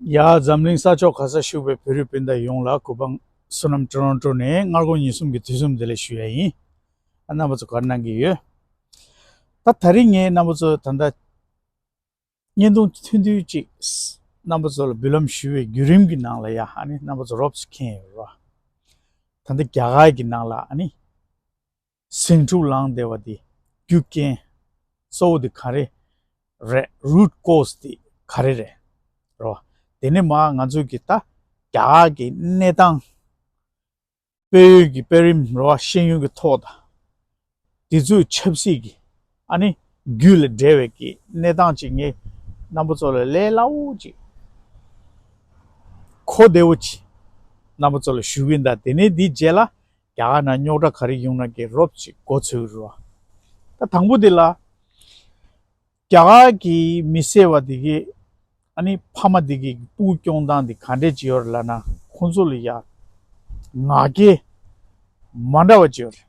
ཡ། འཛམ་གླིང་ས་ཕྱོགས་ག་སར་བཞུགས་པའི་བོད་རིགས་སྤུན་ཟླ་ཡོངས་ལ་གུས་པ་བསོད་ནམས་སྤྲོ་ལོང་སྤྲོ་ནས་སྔར་དགོང་ཉིན་གསུམ་གྱི་དུས་གསུམ་བདེ་ལེགས་ཞུ་ཡ་ཡིན། ཨ་རྣམ་པ་ཚོ་གར་སྣང་གི་ཡོད། ད་ད་རིང་ངས་རྣམ་པ་ཚོ་ད་ལྟ་བརྙན་ཐུང་ཐུང་ཐུང་ཅིག་རྣམ་པ་ཚོ་ལ་འབུལ་ལམ་ཞུ་བའི་བརྒྱུད་རིམ་གྱི་ནང་ལ་ཡ་ཨ་ནི་རྣམ་པ་ཚོ་རོབ་ས་ཁེན་ཡོད་རེད་བ། ད་ལྟ་རྒྱ་གར་གྱི་ནང་ལ་ཨ་ནི། ཟིང་འཁྲུག་ལངས་བསྡད་པ་དེ་རྒྱུ་རྐྱེན་གཙོ་བོ་དེ་ག་རེ་རེད Root Cause དེ་ག་རེ་རེད་རེད་བ། དེ་ནས་མ་ང་ཚོས་ཀྱི་ད་རྒྱ་གར་གྱི་གནས་སྟངས་དཔལ་ཡོན་གྱི་དཔལ་རིམ་རེད་བ་ཤེས་ཡོན་གྱི་ཐོག་དང། དེ་ཚོའི་ཆབ་སྲིད་ཀྱི་ཨ་ནི་རྒྱུད་ལ་འབྲེལ་བའི་ཀྱི་གནས་སྟངས་ཅིག་ངའི་རྣམ་པ་ཚོ་ལ་ལས་སླ་བོ་ཅིག་གོ་བདེ་བོ་ཅིག་རྣམ་པ་ཚོ་ལ་ཞུ་གིན་གདའ་དེ་ནས་དེའི་རྗེས་ལ་རྒྱ་གར་ན་རྙོག་དྲ་ག་རེ་ཡོང་ན་གི་རོབ་ཅིག་གོ་ཚོད་རུ་བ། ད་དང་པོ་དེ་ལ། རྒྱ་གར་གི་མི་སེར་བ་དེ་གི། ཨ་ནི་ཕ་མ་དེ་གི་སྤུག་སྐྱོང་སྟངས་དེ་ག་འདྲས་བྱེད་ཡོད་རེད་ལབ་ན་ཁོང་ཚོ་ལ་ཡ། ང་རྒྱལ། མ་འདྲ་བ་བྱེད་ཡོད་རེད།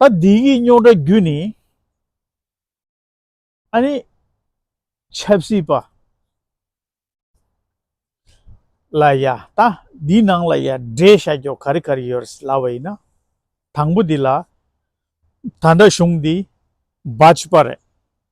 ད་འདི་གི་རྙོག་དྲ་རྒྱུ་ནི། ཨ་ནི། ཆབ་སྲིད་པ། ལ་ཡ། ད་འདི་ནང་ལ་ཡ་འདྲེ་ཤ་རྒྱོག་ག་རི་ག་རི་ཡོད་རེད་ལབ་པ་ཡིན་ན། དང་པོ་འདི་ལ། ད་འདྲ་གཞུང་འདི། བ་ཅི་པ་རེད།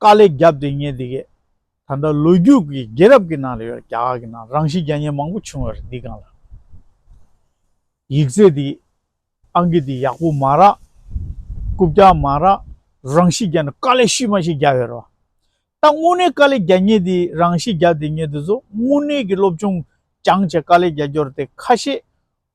དཀའ་ལས་བརྒྱབ་སྟེ་ངས་འདི་གས། ད་ལྟ་ལོ་རྒྱུས་ཀྱི་རྒྱལ་རབས་ཀྱི་ནང་ལ་ཡོད་རྒྱ་གར་གྱི་ནང་རང་བཞིན་རྒྱ་ཉན་མང་པོ་བྱུང་བ་རེད་འདི་གང་ལ། ཡིག་རྩེད་འདི། ཨང་ཀི་འདི་ཡག་པོ་མ་རག། རྐུབ་བཀྱག་མ་རག། རང་བཞིན་རྒྱ་ནས་དཀའ་ལས་ཤུལ་མ་ཞིག་བརྒྱབ་ཡོད་རེད་བ། ད་དངོས་གནས་དཀའ་ལས་རྒྱ་ཉན་འདི་རང་བཞིན་རྒྱབ་སྟེ་ངས་འདི་ཚོ་དངོས་གནས་ཀྱི་སློབ་སྦྱོང་རྐྱང་བྱས་དཀའ་ལས་རྒྱ་སྐྱོར་ཏེ་ཁ་ཤས་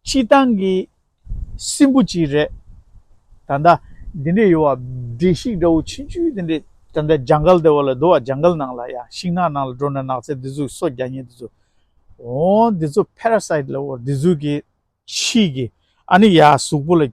སྤྱི་བཏང་གི་སྲིན་བུ་གཅིག་རེད། ད་ལྟ། འདི་འདྲའི་ཡོ་བ་བདེ་གཤེགས་དགྲ་བོ་ཆེན་བཅུའི་དེ་འདྲའི་ད་ལྟ་ལྗང་གལ་དེ་བ་ལ་དུ་བ་ལྗང་གལ་ནང་ལ་ཡ་ཤིང་ནག་ནང་ལ་འགྲོ་ནས་ནགས་ཚལ་འདི་ཚོ་སོ་བརྒྱ་ཉེ་འདི་ཚོ། འོང། འདི་ཚོ parasite ལ་འོ་འདི་ཚོའི་གི་ཕྱིས་གི་ཨ་ནི་ཡ་གཟུགས་པོ་ལ།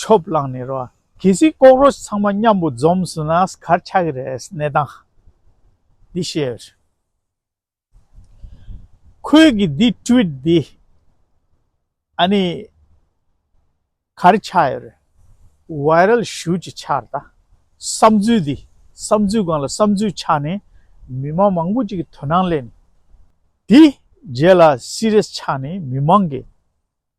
ཆོབ་བླངས་ནས་རོ། གལ་སྲིད་ལྐོག་རོ་ཚང་མ་མཉམ་པོ་འཛོམས་སུ་ན་གར་ཆགས་ཀྱི་རེད་གནས་སྟངས་འདི་ཤེས་ཡོད། ཁོས་ཀྱི་འདི་བཀྲུས་འདི་ཨ་ནི་གར་ཆགས་ཡོད་རེད Viral Shoot ཅིག་ཆགས་རེད་ད་བསམ་ཚུལ་འདི་བསམ་ཚུལ་སྒང་ལ་བསམ་ཚུལ་ཆགས་ནས་མི་མང་མང་པོ་ཅིག་གི་དོ་སྣང་གླས་ནས་དེ་རྗེས་ལ Serious ཆགས་ནས་མི་མང་གི།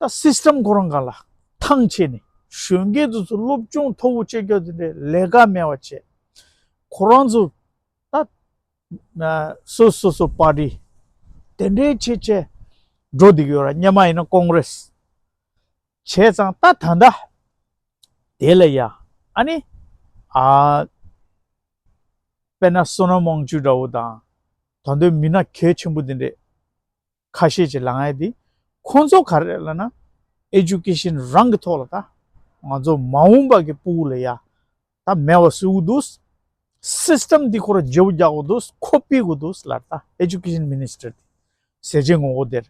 ད་སིསྟེམ་གོ་རང་ག་ལ་ཐང་ཆད་ནས་གཞོན་སྐྱེས་ཚོ་ཚོ་སློབ་སྦྱོང་མཐོ་བོ་བྱེད་རྒྱུ་དེ་འདྲའི་ལས་ཀ་མེད་བ་བྱས། ཁོ་རང་ཚོ་ད་སོ་སོ་སོ་པ་ཏི་དེ་འདྲའི་ཆེད་བྱས་འགྲོ་འདུག་ཡོད་ར་སྙེ་མ་ཡིན་ན་ཀོང་རེས་བྱས་ཙང་ད་ད་འདྲ་དེ་ལ་ཡ་ཨ་ནི་ཨ་པེ་ན་སོ་ན་མང་བྱུས་འདྲ་བོ་དང་ད་འདོད་མི་ན་གལ་ཆེན་པོ་དེ་འདྲའི། ཁ་ཤས་ཀྱི་ལངས་ཡས་དེ་ཁོང་ཚོ་ག་རེད་ལ་ན། Education རང་གི་ཐོག་ལ་ད། ང་ཚོ་མ་འོངས་པ་གི་པུའུ་ལ་ཡ། ད་མེ་བ་སུ་གུ་འདུག། System དེ་ཁོ་ར་ཇེ་བོ་རྒྱག་གོ་འདུག་ཁོ་པི་གོ་འདུག་ལར་ད Education Minister དེ། ཟེ་ཇེ་ངོ་གོ་དེར།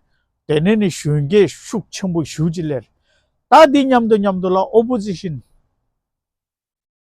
དེ་ནས་ནི་གཞོན་སྐྱེས་ཤུགས་ཆེན་པོ་ཞུགས་ཅི་ལེར། ད་དེ་མཉམ་དུ་མཉམ་དུ་ལ Opposition།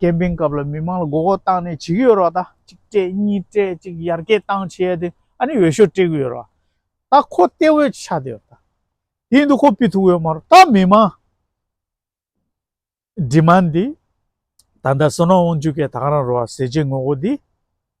ཀེམ་པིང་སྐབས་ལ་མི་དམངས་ལ་མགོ་སྐོར་བཏང་ནས་བྱེད་ཀྱི་ཡོད་རོགས་ད་གཅིག་སྤྲད་གཉིས་སྤྲད་གཅིག་ཡར་སྐྱེད་བཏང་བྱས་ཏེ་ཨ་ནི་འོས་ཤོག་སྤྲད་ཀྱི་ཡོད་རོགས་ད་ཁོ་གཏད་འོས་ཆགས་ཏེ་ཡོད་དེ་ཡིན་དུ་ཁོ་སྤི་ཐུག་ཡོད་མ་རོགས་ད་མི་དམངས་འདི་མ་འདི་ད་ད་སོ་ནོ་དབང་ཆུ་ཁའི་ད་ག་རང་རོགས་ཟེ་བྱེད་ངོ་གོ་འདི།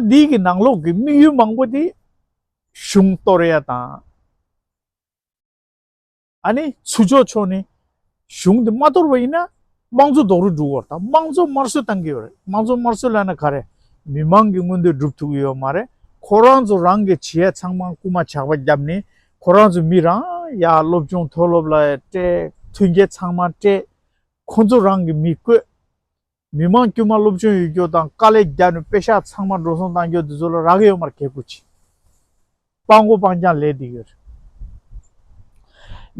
ད་འདིའི་གི་ནང་ལོག་གི་དམིགས་ཡུལ་མང་པོ་དེ་གཞུང་གཏོར་ཡ་དང། ཨ་ནི་ཚུ་ཆོག་ཆོག་ནི་གཞུང་དེ་མ་གཏོར་བ་ཡིན་ན་དམངས་གཙོ་རྡོག་རུལ་འགྲུག་དགོས་དང་དམངས་གཙོ་དམར་གསོད་གཏང་གི་ཡོད་རེད་དམངས་གཙོ་དམར་གསོད་ལ་ན་ག་རེ་མི་མང་གི་མངོན་འདོད་སྒྲུབ་ཐུབ་ཀྱི་ཡོད་མ་རེད་ཁོ་རང་ཚོ་རང་གི་བྱེད་ཡ་ཚང་མ་རྐུ་མ་ཇག་པ་རྒྱབ་ནི་ཁོ་རང་ཚོ་མི་རང་ཡ་སློབ་སྦྱོང་མཐོ་སློབ་ལ་སྤྲད་མཐུན་རྒྱལ་ཚང་མ་སྤྲད་ཁོ་ཚོ་རང་གི་མི་བཀོད་མི་དམངས་དཀྱུས་མ་སློབ་སྦྱོང་ཡོད་རྒྱུ་དང་དཀའ་ལས་རྒྱག་ནས་དཔེ་ཤག་ཚང་མ་འགྲོ་སོང་གཏང་རྒྱུ་དེ་ཚོ་ལ་རག་ཡོད་མར་གད་བསྐུར་ཅིག། སྤང་གོ་སྤང་རྐྱང་ལས་འདི་ཡོད་རེད།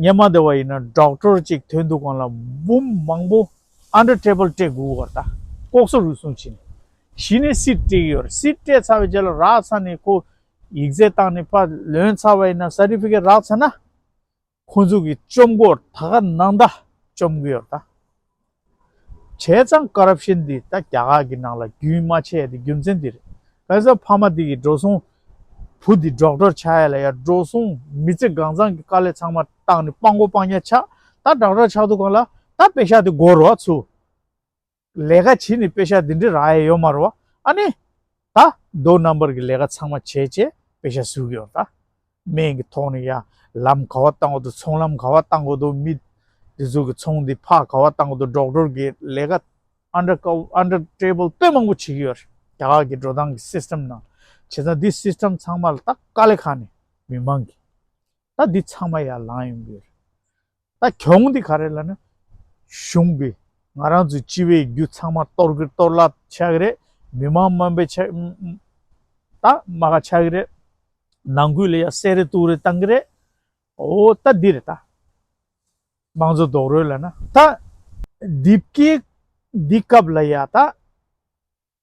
ཉན་མ་བདེ་བ་ཡིན་ན་སྦྲག་སྤྲོར་ཅིག་དོན་འདུག་གང་ལ་འབུམ་མང་པོ Under table སྤྲད་དགོས་བར་ད་ལྐོག་ཟ་རུལ་སུངས་བྱེད་ནས་གཞི་ནས་སྲིད་སྤྲད་ཀྱི་ཡོད་རེད་སྲིད་སྤྲད་ཚར་བའི་རྗེས་ལ་རག་ཚར་ནས་ཁོ་ཡིག་རྩལ་བཏང་ནས་པ་ལོན་ཚར་བ་ཡིན་ན Certificate རག་ཚར་ན། ཁོང་ཚོ་གི་བཅོམ་སྐོར་ད་ག་ནང་ད་བཅོམ་གི་ཡོད་ད། བྱས་ཙང Corruption འདི་ད་རྒྱ་གར་གི་ནང་ལ་རྒྱུན་མ་ཆད་དེ་རྒྱུ་མཚན་འདི་རེད། ག་ས་ཕ་མ་འདི་གི་འགྲོ་སོང་བུ་འདི་སྒྲོག་སྒྲོག་བྱ་ཡ་ལ་ཡ་འགྲོ་སོང་མི་ཚེ་གང་ཚང་གི་དཀའ་ལས་ཚང་མ་བཏང་ནི་སྤང་གོ་སྤང་ཉ་ཆག་ད་སྒྲག་སྒྲག་ཆག་འདུག་ག་ལ་ད་པེ་ཤ་དེ་སྒོར་རོགས་ཚུ། ལས་ཀ་བྱས་ནས་དཔེ་ཆ་འདི་འདྲ་རག་ཡས་ཡོད་མ་རེད་བ། ཨ་ནི། ད་རྡོ་རྣམ་པར་གྱི་ལས་ཀ་ཚང་མ་བྱས་བྱས་དཔེ་ཆ་གཟུགས་ཡོད་རེད། སྨན་གྱི་ཐོག་ནས་ཡང་ལམ་ག་བ་བཏང་གོ་དུ་ཚོང་ལམ་ག་བ་བཏང་གོ་དུ་མི། འདི་ཚོ་གི་ཚོང་འདི་ཕག་ག་བ་བཏང་གོ་དུ་སྒྲོག་སྒྲོལ་གྱི་ལས་ཀ། Under cover Under table དཔེ་མང་པོ་བྱེད་ཀྱི་ཡོད་རེད་རྒྱ་གར་གྱི་འགྲོ་སྟངས་གྱི system ནང། བྱས་ཙང་འདི system ཚང་མ་ལ་ད་དཀའ་ལས་ཁག་ནི་མི་མང་གི། ད་འདི་ཚང་མ་ཡར་ལངས་ཡོང་གི་ཡོད་རེད། ད་གྱོང་འདི་ག་རེ་ལ་ནི་གཞུང་གིས་ང་རང་ཚོའི་སྤྱི་བའི་རྒྱུ་ཚང་མ་གཏོར་གི་གཏོར་གླ་ཆགས་ཀྱི་རེད། མི་མང་དམའ་འབེབས་ཆགས་ད་དམའ་ག་ཆགས་ཀྱི་རེད། ནང་ཁུལ་ལ་ཡང་གསལ་རེ་གཏུག་རེ་བཏང་གི་རེད། འོ་ད་འདི་རེད་ད། དམངས་གཙོ་རྡོག་རོལ་ལ་ན་ད། འདི་སྐད་འདི་སྐབས་ལ་ཡང་ད།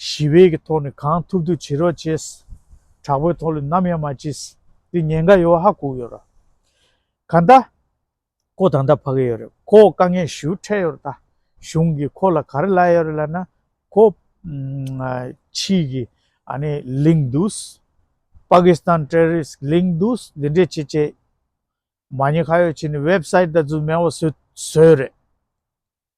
ཞི་བའི་གི་ཐོག་ནས་གང་ཐུབ་ཐུབ་བྱེད་རོགས་བྱེད། དྲག་པོའི་ཐོག་ལས་ནམ་ཡང་མ་བྱེད། འདི་ཉེན་ཁ་ཡོད་ཧ་གོ་ཡོད་ར། ག་ད། ཁོ་ད་ད་ཕ་གི་ཡོད་རེད་ཁོ་དཀའ་ངལ་ཞུ་འཕྲད་ཡོད་ར་ད། གཞུང་གི་ཁོ་ལ་ག་རེ་ལ་ཡོད་རེད་ལ་ན། ཁོ། ཕྱིས་གི། ཨ་ནི་གླིང་འདུག། Pakistan Terrorist གླིང་འདུག་འདི་འདྲས་བྱེད་བྱེད། མ་ཉེ་ཁ་ཡོད་བྱེད་ནི Website ད་ཚུ་མེ་བ་བཟོས་བཟོས་རེད།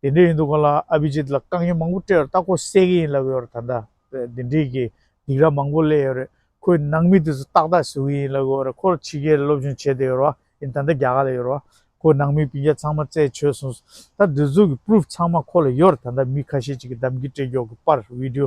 དེ་འདྲ་ཡིན་འདུག་གོ་ལ་ཨ་བྷི་ཇིད་ལ་རྐང་གཡས་མང་པོ་སྤྲད་བར་སྟག་གོ་གསལ་གྱི་ཡིན་ལབ་ཡོད་རེད་ད་ལྟ་དེ་འདྲིས་ཀྱི་སྡིག་ར་མང་པོ་གླས་ཡོད་རེད་ཁོའི་ནང་མི་དེ་ཚོ་ཏག་ཏག་ཟེའུ་ཡིན་ལབ་ཡོད་རེད་ཁོར་ཕྱི་རྒྱལ་ལ་སློབ་སྦྱོང་བྱས་དེ་ཡོད་རེད་ཡིན་ད་ལྟ་རྒྱ་གར་ལ་ཡོད་རེད་ཁོའི་ནང་མི་བུ་རྒྱ་ཚང་མ་བཙལ་བྱོས་སོང་ཟེར་ད་འདི་ཚོ་གི proof ཚང་མ་ཁོ་ལ་ཡོད་རེད་ད་ལྟ་མི་ཁ་ཤས་ཅིག་གི་གདམ་གྱི་སྤྲད་རྒྱོག་གི་པར video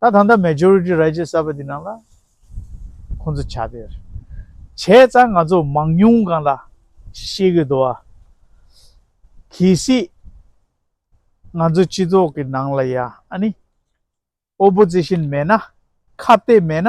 ད་ད་ལྟ Majority Right ཅེས་བསལ་བ་འདི་རྣམས་ལ་ཁོང་ཚོ་བྱ་བེར་བྱས་ཙང་ང་ཚོ་མང་ཉུང་གང་ལ་ཤེས་གི་འདུག་བ། གལ་སྲིད་ང་ཚོ་སྤྱི་ཚོགས་ཀྱི་ནང་ལ་ཡང་ཨ་ནི Opposition མེད་ན་ཁ་བཏད་མེད་ན་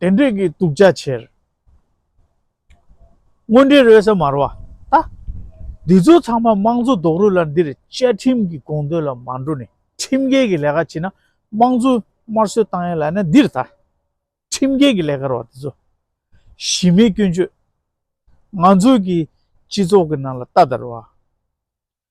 དེ་འདྲས་ཀྱི་དུག་རྒྱ་ཆེར། དངོས་འབྲེལ་རོལ་ས་མར་བ་ལྟ། འདི་ཚོ་ཚང་མ་དམངས་གཙོ་རྡོག་རོལ་ལ་འདིར་བཅའ་ཁྲིམས་ཀྱི་དགོངས་དོན་ལ་མ་འགྲོ་ནས་ཁྲིམས་འགལ་གྱི་ལས་ཀ་བྱེད་ན་དམངས་གཙོའི་དམར་གསོད་བཏང་ཡ་ལ་ནི་འདིར་ལྟ། ཁྲིམས་འགལ་གྱི་ལས་ཀར་བ་འདི་ཚོ། གཞི་མེད་སྐྱོན་བརྗོད། ང་ཚོའི་གི་སྤྱི་ཚོགས་ཀྱི་ནང་ལ་ལྟ་དར་བ།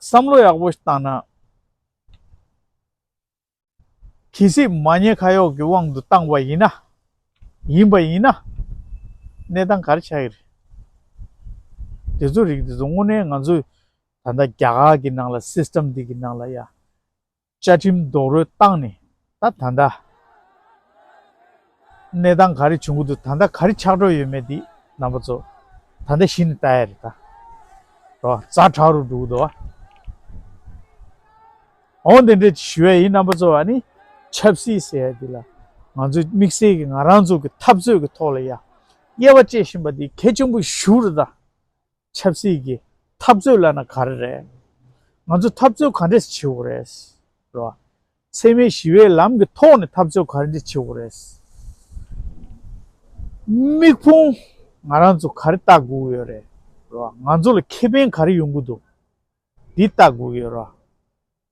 བསམ་བློ་ཡག་པོ་བཏང་ན། གལ་སྲིད་མ་ཉེས་ཁ་གཡོག་གི་དབང་དུ་བཏང་བ་ཡིན་ན། ཡིན་པ་ཡིན་ན། གནས་སྟངས་ག་རེ་ཆགས་ཀྱི་རེད། དེ་ཚོ་རིགས་དེ་ཚོ་དངོས་གནས་ང་ཚོས་ད་ལྟ་རྒྱ་གར་གྱི་ནང་ལ་སིས་ཏེམ་ཏིག་གི་ནང་ལ་ཡ། བཅའ་ཁྲིམས་རྡོག་རོལ་བཏང་ནས་ད་ད་ལྟ་གནས་སྟངས་ག་རེ་བྱུང་གི་འདུག་ད་ལྟ་ག་རེ་ཆགས་འགྲོ་ཡོད་མེད་འདི་རྣམ་པ་ཚོ་ད་ལྟ་གཞི་ནས་བལྟ་ཡ་རེད་ད། རོ་བཟའ་བྲག་རུ་འགྲོ་གི་འདུག་ཨ། འོང་དེ་འདྲ་ཞུ་ཡ་ཡིན་རྣམ་པ་ཚོ་ཨ་ནི་ཆབ་སྲིད་ཟེར་ཡ་འདི་ལ་ང་ཚོས་དམིགས་བསལ་གྱི་ང་རང་ཚོ་གི་འཐབ་རྩོད་ཀྱི་ཐོག་ལ་ཡ་དབྱེ་བ་བཅད་བཞིན་པ་འདི་གལ་ཆེན་པོ་ཞུ་རེད་ད། ཆབ་སྲིད་ཀྱི་འཐབ་རྩོད་བླ་ན་ག་རེ་རེད། ང་ཚོ་འཐབ་རྩོད་ག་འདྲས་བྱེད་འོ་རེད། རེད། འཚེ་མེད་ཞི་བའི་ལམ་གྱི་ཐོག་ནས་འཐབ་རྩོད་ག་རེ་འདྲས་བྱེད་འོ་རེད། དམིགས་ཕུང་ང་རང་ཚོ་ག་རེ་བལྟ་དགོས་ཡོད་རེད། རེད། ང་ཚོ་ལ་ཁེ་ཕན་ག་རེ་ཡོང་གི་འདུག་འདི་བལྟ་དགོས་ཡོད་རེད།